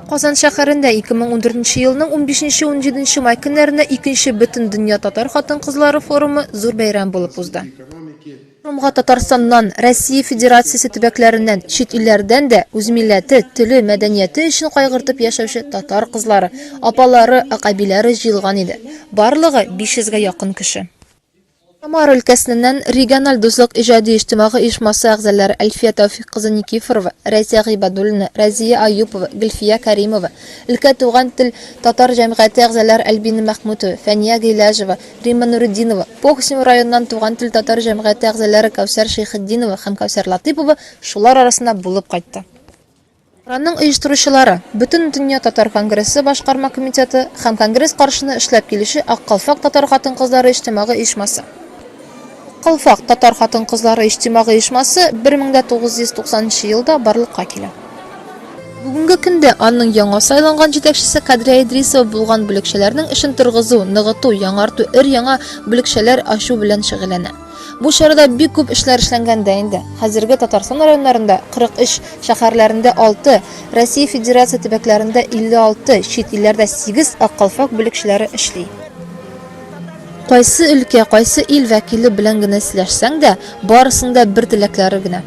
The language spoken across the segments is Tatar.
Казан шәһәрендә 2014 елның 15-17 май көннәрендә икенче бөтен дөнья татар хатын-кызлары форумы зур бәйрәм булып узды. Форумга Татарстаннан, Россия Федерациясе төбәкләреннән, чит илләрдән дә үз милләте, теле, мәдәнияте өчен кайгыртып яшәүче татар кызлары, апалары, акъәбиләре җыелган иде. Барлыгы 500 гә якын кеше. Самара өлкәсеннән региональ дуслык иҗади иҗтимагы оешмасы әгъзалары Әлфия Тәүфик кызы Никифорова, Рәйсә Гыйбадуллина, Рәзия Аюпова, Гөлфия Кәримова, өлкә Туган тел татар җәмгыяте әгъзалары Альбина Мәхмүтова, Фәния Гыйләҗева, Римма Нуретдинова, Похсим районыннан Туган тел татар җәмгыяте әгъзалары Кәүсәр Шәйхетдинова һәм Кәүсәр Латыйпова шулар арасында булып кайтты. Ураның оештыручылары, Бөтендөнья татар конгрессы башкарма комитеты һәм конгресс каршына эшләп килүче Ак калфак татар хатын-кызлары иҗтимагый оешмасы. Ак калфак татар хатын-кызлары иҗтимагый оешмасы 1990 нчы елда барлыкка килә. Бүгенге көндә аның яңа сайланган җитәкчесе Кадрия Идрисова булган бүлекчәләрнең эшен торгызу, ныгыту, яңарту, өр-яңа бүлекчәләр ачу белән шөгыльләнә. Бу чарада бик күп эшләр эшләнгән дә инде. Хәзерге Татарстан районнарында 43, шәһәрләрендә 6, Россия Федерация төбәкләрендә 56, чит илләрдә 8 ак калфак бүлекчәләре эшли. Кайсы өлкә, кайсы ил вәкиле белән генә сөйләшсәң дә, барысының да бер теләкләре генә.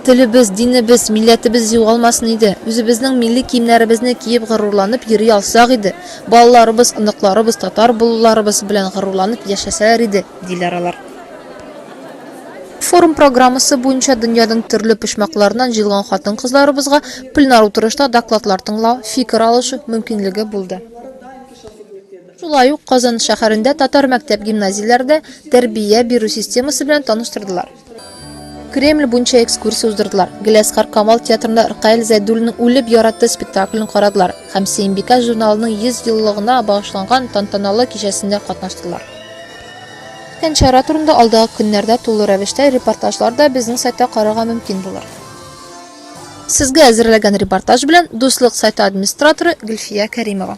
Телебез, динебез, милләтебез югалмасын иде, үзебезнең милли киемнәребезне киеп горурланып йөри алсак иде, балаларыбыз, оныкларыбыз татар булуларыбыз белән горурланып яшәсәләр иде, диләр алар. Форум программасы буенча дөньяның төрле почмакларыннан җыелган хатын-кызларыбызга пленар утырышта докладлар тыңлау, фикер алышу мөмкинлеге булды. Шулай ук Казан шәһәрендә татар мәктәп-гимназияләрдә тәрбия бирү системасы белән таныштырдылар. Кремль буенча экскурсия уздырдылар. Геләскар Камал театрында Ркаил Зәйдуллинның Үлеп яратты спектаклен карадылар һәм Сиембикә журналының 100 еллыгына багышланган тантаналы кичәсендә катнаштылар. Үткән чара турында алдагы көннәрдә тулы рәвештә репортажлар да безнең сайтта карарга мөмкин булыр. Сезгә әзерләгән репортаж белән Дуслык сайты администраторы Гөлфия Кәримова.